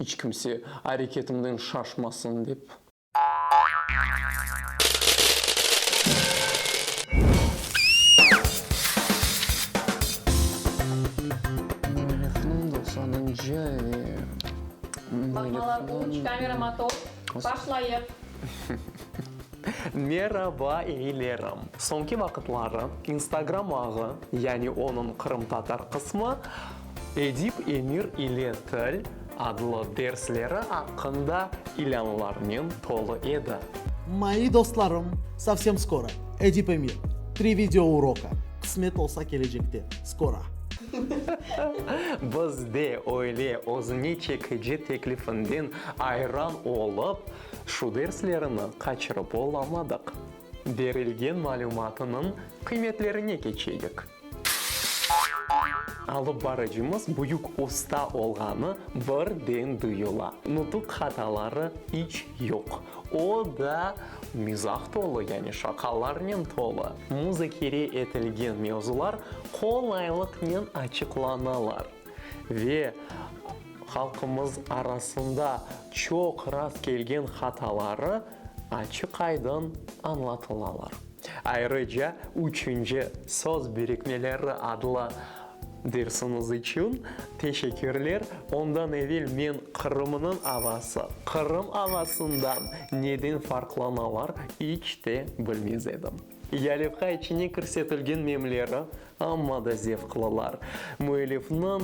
İç kimse areketimden şaşmasın dep. Telefon da sadece ve. Baqmalar üç, kamera motor, başlayıq. Meraba eyilerim. Soñki vaqıtları Instagram ağı, yani onıñ qırımtatar qısmı, Edip Emir ile til adlı dersleri aqqında ilânlarnen tolu edi. Moyi dostlarım, sovsem skoro, Edip Emir, tri video uroka, qısmet olsa kelecekte, skora. Biz de öyle özüne çekici teklifinden ayran olıp, şu derslerini qaçırıp olamadıq. Berilgen malümatınıñ qıymetlerine keçeyik. Alıp barıcımız büyük usta olğanı birden duyula. Nutuq hataları iç yoq. O da mizah tolu, yani şaqalarnen tolu. Muzakere etilgen mevzular qolaylıqnen açıqlanalar ve halqımız arasında çoq rast kelgen hataları açıq-aydın añlatılalar. Ayrıca üçünci Söz birikmeleri adlı dersiñiz içün teşekkürler. Ondan evel men Qırımnıñ avası, Qırım avasından neden farqlanalar iç te bilmez edim. Yalevka içine kirsetilgen nemleri Amma da zevqlılar. Müellifniñ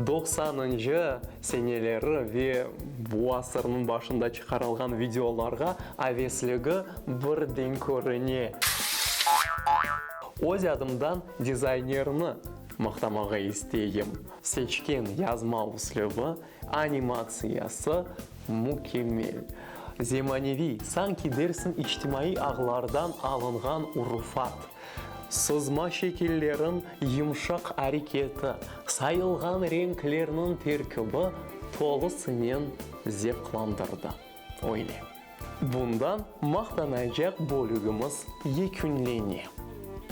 doqsanıncı seneleri ve bu asırnıñ başında çıqarılğan videolarğa avesligi birden körüne. Öz adımdan dizaynerni maqtamağa isteyim. Seçken yazma üslübi Animatsiyası mükemmel. Zemaneviy, sanki dersiñ içtimaiy ağlardan alınğan urufat. Sızma şekilleriñ yımşaq areketi, sayılğan renklerniñ terkibi tolusınen zevqlandırdı. Öyle. Bundan maqtanacaq bölügimiz yekünlene.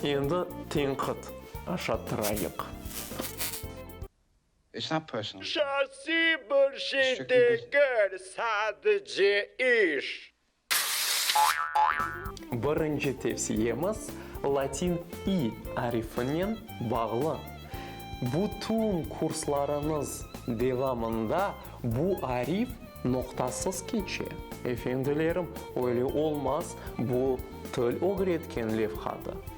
Endi tenqit aşattırayıq. Şahsiy bir şey degil, sadece iş. Birinci tevsiyemiz latin i arifinen bağlı. Bütün kurslarıñız devamında bu arif noqtasız keçe. Efendilerim, öyle olmaz, bu til ögretken levhadır.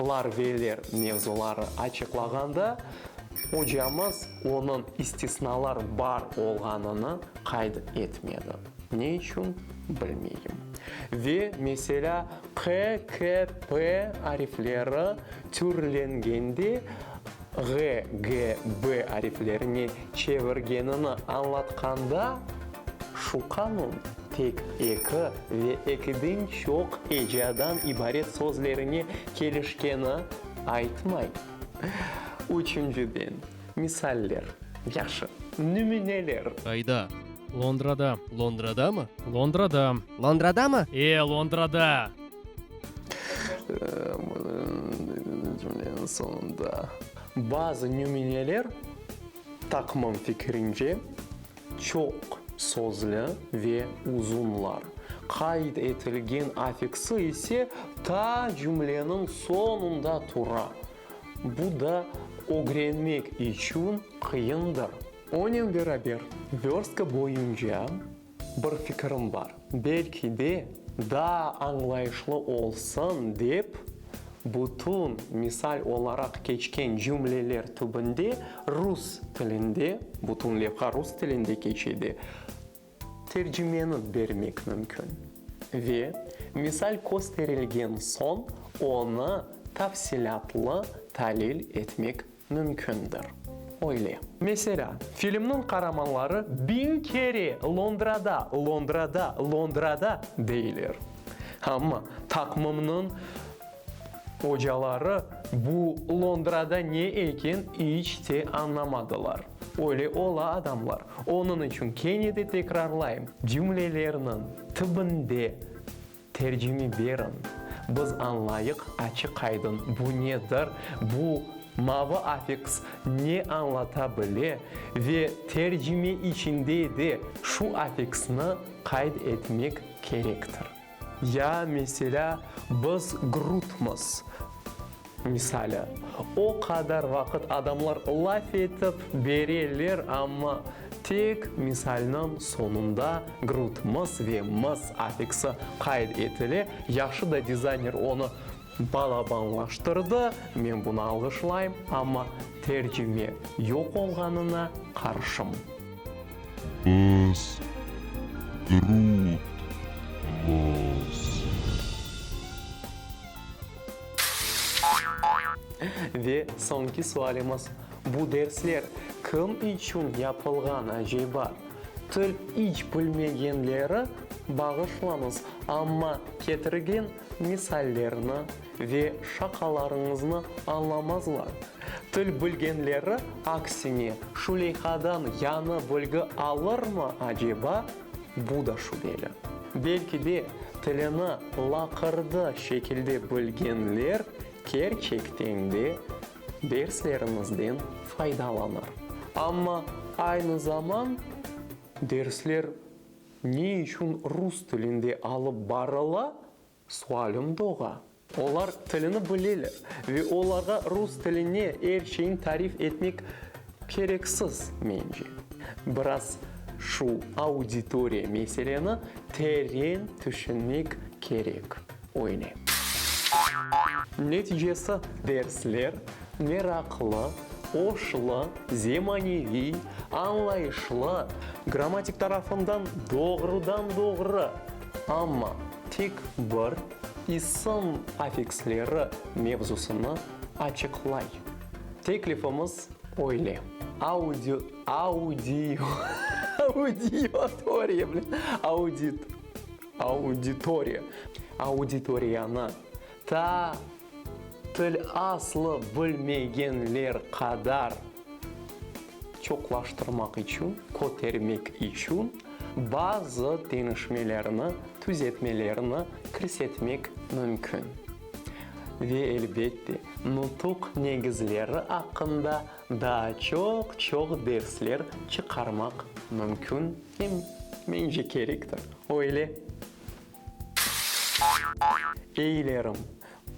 lar ve ler mevzuları açıqlağanda ocamız onıñ istisnalar bar olğanını qayd etmedi. Ne içün, bilmeyim. Ve, meselâ, q, k, p arifleri türlengende ğ, g, b ariflerine çevirgenini añlatqanda şu qanun. Tek eki ve ekiden çoq ecadan ibaret sözlerine kelişkeni aytmay. Üçünciden, misaller. Yahşı, nümüneler. Qayda? Londrada. Londradamı? Londrada. Londradamı? E, Londrada! Cümleniñ soñunda. Bazı nümüneler, taqımım fikirince, Çoq sözlü ve uzunlar. Qayd etilgen afiksi ise ta cümleniñ soñunda tura. Bu da ögrenmek içün qıyındır. Onen beraber, vörstka boyunca bir fikirim bar, belki de, daa añlayışlı olsun dep Bütün misal olaraq keçken cümleler tübünde rus tilinde, bütün levha rus tilinde keçedi, tercimeni bermek mümkün ve misal kösterilgen soñ onı tafsilâtlı talil etmek mümkündir. Öyle. Meselâ, filmniñ qaramanları biñ kere Londrada, Londrada, Londrada deyler. Amma taqmımnıñ ocaları bu Londrada ne eken iç te añlamadılar. Öyle ola, adamlar. Onıñ içün kene de tekrarlayım, cümlelerniñ tibinde, Tercimi beriñ. Biz añlayıq, açıq aydın, bu nedir, bu mavı afiks ne añlata bile ve tercime içinde de şu afiksni qayd etmek kerektir. Ya, meselâ, biz grutmız. Misali, o qadar vaqıt adamlar laf etip bereler, amma tek misalniñ soñunda grud, mıs ve mıs affiksi qayd etile. Yahşı da dizayner onı balabanlaştırdı, men bunı alğışlayım, amma tercime yoq olğanına qarşım. Biz, grud, mıs. Ve soñki sualimiz, bu dersler kim içün yapılğan acayba? Til iç bilmegenleri bağışlañız, amma ketirgen misallerni ve şaqalarıñıznı añlamazlar. Til bilgenleri aksine şu leyhadan yañı bilgi alırmı acayba? Bu da şübeli. Belki de, tilini laqırdı şekilde bilgenler kerçekten de derslerimizden faydalanır. Amma aynı zaman dersler ne içün rus tilinde alıp barıla? Sualim doğru. Olar tilini bileler ve olarğa rus tiline er şeyni tarif etmek kereksiz, mence. Biraz şu auditoriya meseleni teren tüşünmek kerek, öyle. Neticesi, dersler meraqlı, oşlı, zemaneviy, añlayışlı, grammatik tarafından doğrudan-doğru, amma. Tek bir isim affiksleri mevzusını açıqlay. Teklifimiz öyle, audio, audio, audiatoriya, audit, auditoriya, auditoriyanı Ta til aslı bilmegenler qadar çoqlaştırmaq içün, kötermek içün bazı deñişmelerni, tüzetmelerni kirsetmek mümkün. Ve, elbette, nutuq negizleri aqqında daa çoq-çoq dersler çıqarmaq mümkün. Em, mence, kerektir, öyle. Eylerim,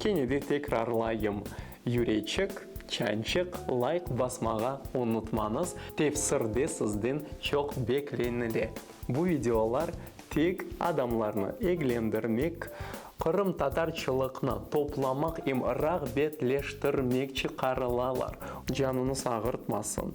kene de tekrarlayım, Yüreçik, Çançıq, layk basmağa unutmañız, tefsirde sizden çoq beklenile. Bu videolar tek adamlarnı eglendirmek, qırımtatarçılıqnı toplamaq em rağbetleştirmek çıqarılalar. Canıñız ağırtmasın.